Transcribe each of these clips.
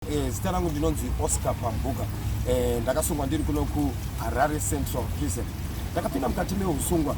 Eh, zita rangu ndinonzi Oscar Pambuka. Eh, ndakasungwa ndiri kuno ku Harare Central Prison. Ndakapinda mukati mehusungwa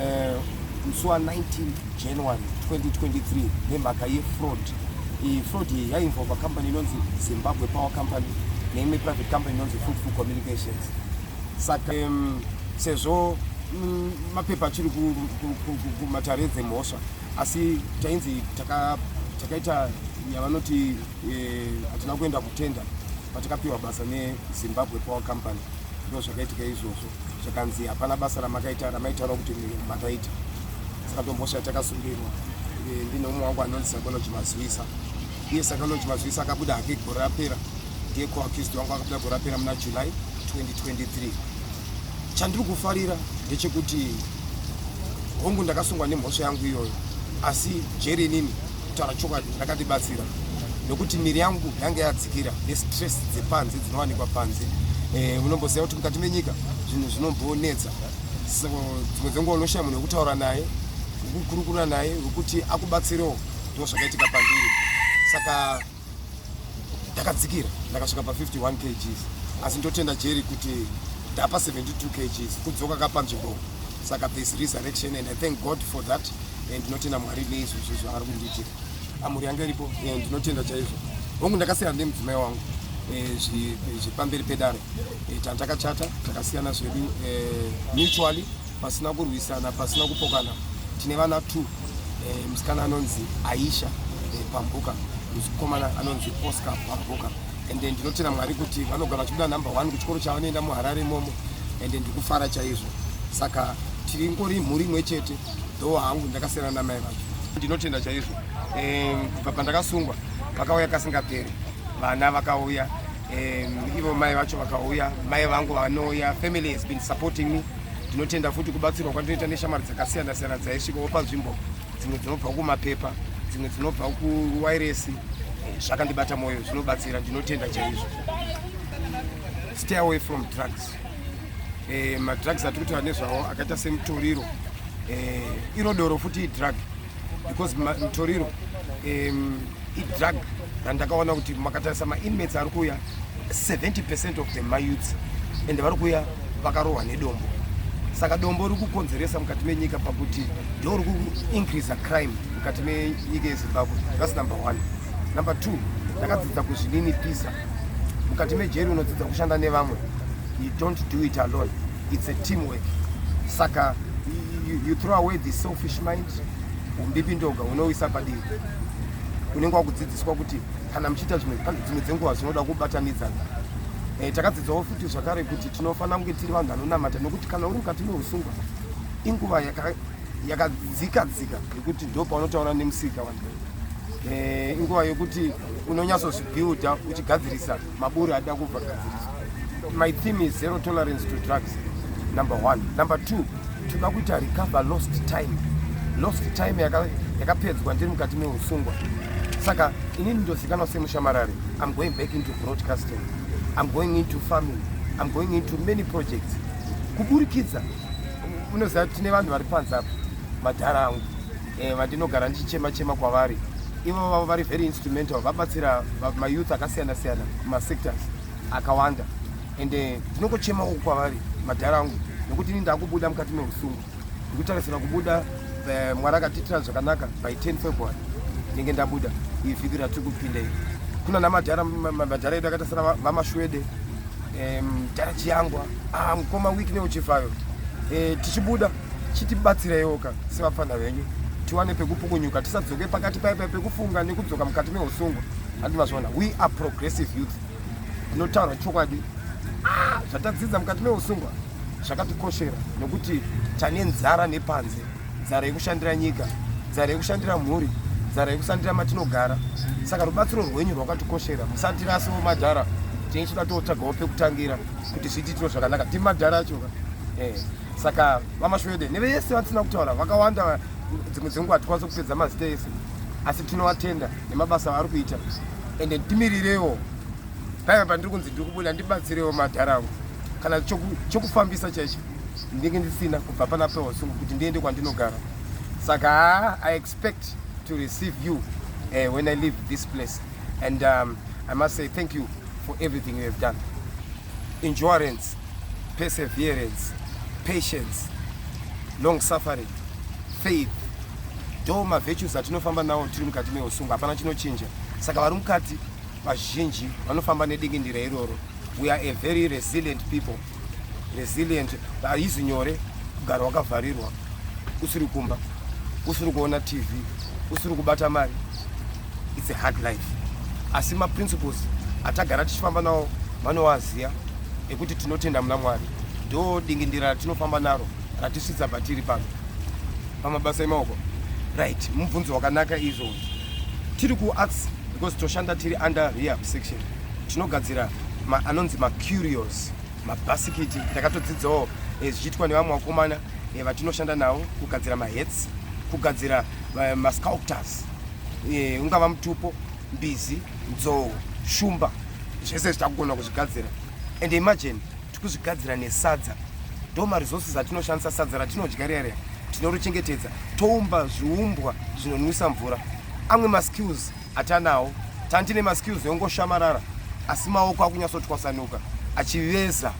eh, musi wa 19 January 2023 nemhaka yefraud. Iyi fraud iyi yainvolva company inonzi Zimbabwe Power Company neimwe private company inonzi Fruitful Communications. Saka um, sezvo mm, mapepa achiri kumatare dzemhosva asi tainzi takaita yavanoti hatina kuenda kutenda patakapiwa basa nezimbabwe power company ndo zvakaitika izvozvo zvakanzi hapana basa ramakaita ramaitaura kuti makaita saka tombosha takasungirwa e, ndine umwe wangu anonzi sakoloji mazivisa iye sakoloji mazivisa akabuda hake gore rapera ndiye koakisti wangu akabuda gore rapera muna july 2023 chandiri kufarira ndechekuti hongu ndakasungwa nemhosva yangu iyoyo asi jeri inini kutaura chokwadi rakatibatsira nokuti miri yangu yange yadzikira nestress dzepanze dzinowanikwa panze eh, unomboziva kuti mukati menyika zvinhu zvinombonetsa so dzimwe dzenguva unoshaya munhu wekutaura naye wekukurukura naye wekuti akubatsirewo ndo zvakaitika pandiri saka ndakadzikira ndakasvika pa 51 kgs asi ndotenda jeri kuti ndapa 72 kgs kudzoka kapanzvimbo saka this resurrection and i thank god for that and ndinotenda mwari neizvozvo zvaari kundiitira amuri yanga iripo eh, ndinotenda chaizvo hongu ndakasiyana nemudzimai wangu eh, zvipamberi pedare eh, tandakachata takasiyana zvedu mutually pasina kurwisana pasina kupokana tine vana two eh, musikana anonzi aisha eh, pambuka mukomana anonzi oscar pambuka ende ndinotera mwari kuti vanogara vachibuda number one kuchikoro chavanoenda muharare imomo ende ndikufara chaizvo saka tiri ngori mhuri imwe chete dhowo hangu ndakasiyana namai vacho ndinotenda chaizvo eh, kubva pandakasungwa vakauya kasingaperi vana vakauya um, ivo mai vacho vakauya mai vangu vanouya family has been supporting me ndinotenda futi kubatsirwa kwandinoita neshamwari dzakasiyana siyana dzaisvika wopa nzvimbo dzimwe dzinobva kumapepa dzimwe dzinobva kuwairesi eh, zvakandibata mwoyo zvinobatsira ndinotenda chaizvo stay away from drugs eh, madrugs atiri kutaura nezvawo akaita semutoriro eh, iro doro futi idrug because mutoriro idrug randakaona kuti makatarisa mainmates ari kuuya 70 percent of the mayouths and vari kuuya vakarohwa nedombo saka dombo riri kukonzeresa mukati menyika pakuti ndo ri kuincreasa crime mukati menyika yezimbabwe thats number one number two ndakadzidza kuzvinini pisa mukati mejeri unodzidza kushanda nevamwe you don't do it alone it's a team work saka you, you throw away the selfish mind umbipi ndoga unoisa padivi unenge wakudzidziswa kuti kana muchiita zvimwe pane dzimwe dzenguva zvinoda kubatanidzana eh, takadzidzawo futi zvakare kuti tinofanira kunge tiri vanhu vanonamata nokuti kana uri mukati meusungwa inguva yakadzika dzika yekuti ndo paunotaura nemusika vanhu eh, inguva yekuti unonyatsozvibuilda uchigadzirisa Maburi ada kubva gadziriswa. My theme is zero tolerance to drugs. Number one. Number two, toda kuita recover lost time. Lost time yakapedzwa ndiri mukati meusungwa. Saka inini ndozikanwa semushamarari. I'm going back into broadcasting. I'm going into farming. I'm going into many projects. Kuburikidza unoziva tine vanhu vari panze apo madhara angu eh, vandinogara ndichichema chema kwavari ivo vavo vari very instrumental vabatsira mayouth akasiyana siyana masectors akawanda and eh, ndinongochema uku kwavari madhara angu nekuti ini ndakubuda mukati meusungu ndikutarisira kubuda eh, mwari akatiitira zvakanaka by 10 february ndinenge ndabuda iyi vhiki ratiri kupinda iri kuna namadhara madhara edu akaita sana vamashwede mdhara chiyangwa ah, mukoma week neuchifayo eh, tichibuda chitibatsireiwo ka sevapfana venyu tiwane pekupukunyuka tisadzoke pakati paipa pekufunga nekudzoka mukati meusungwa handi mazviona we are progressive youth tinotaura chokwadi ah, zvatadzidza mukati meusungwa zvakatikoshera nokuti tane nzara nepanze nzara yekushandira nyika nzara yekushandira mhuri nzara yekusandira matinogara saka rubatsiro rwenyu rwakatikoshera musandirasiwo madhara tine chida tootsvagawo pekutangira kuti zviititiro zvakanaka timadhara achoka eh. saka vamashwede neveyese vatisina kutaura vakawanda dzimwe dzenguva hatikwanisa kupedza mazita ese asi tinovatenda nemabasa avari kuita ende timirirewo paiva pandiri kunzi ndiri kubuda ndibatsirewo madhara angu kana chokufambisa chaicho ndinge ndisina kubva pana pewasungu kuti ndiende kwandinogara saka haa i expect to receive you uh, when i leave this place and um, i must say thank you for everything you have done endurance, perseverance, patience, long suffering, faith do mavirtues atinofamba nawo tiri mukati meusungu hapana chinochinja saka vari mukati vazhinji vanofamba nedingindira iroro we are a very resilient people resilient haizi nyore kugara wakavharirwa usiri kumba usiri kuona tv usiri kubata mari its a hard life asi maprinciples atagara tichifamba nawo vanowaziva ekuti tinotenda muna mwari ndo dingindira ratinofamba naro ratisvitsa patiri pano pamabasa emaoko right mubvunzo wakanaka izvo tiri kuarts because toshanda tiri under rehab section tinogadzira anonzi macurios mabhasikiti ndakatodzidzawo eh, zvichiitwa nevamwe vakomana eh, vatinoshanda navo kugadzira mahets kugadzira eh, masculptors e, ungava mutupo mbizi nzou shumba zvese zvitakugona kuzvigadzira and imagine tikuzvigadzira nesadza ndo maresources atinoshandisa sadza ratinodya riya riya tinorichengetedza toumba zviumbwa zvinonwisa mvura amwe maskills atanawo tantine maskills eungoshamarara asi maoko akunyatsotwasanuka achiveza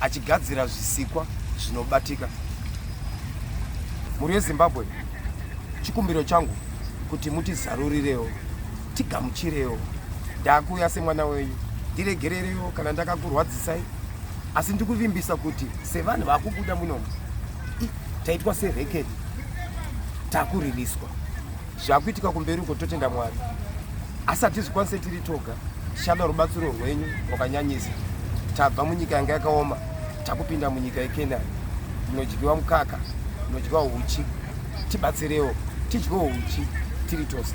achigadzira zvisikwa zvinobatika mhuri yezimbabwe chikumbiro changu kuti mutizarurirewo tigamuchirewo ndakuuya semwana wenyu ndiregererewo kana ndakakurwadzisai asi ndikuvimbisa kuti sevanhu vakubuda munomu taitwa serekedi takuriliswa zvakuitika kumberi uko totenda mwari asi hatizvikwanise tiri toga tichada rubatsiro rwenyu rwakanyanyisa tabva munyika yanga yakaoma takupinda munyika yekenani inodyiwa mukaka inodyiwa uchi tibatsirewo tidyiwo uchi tiri tose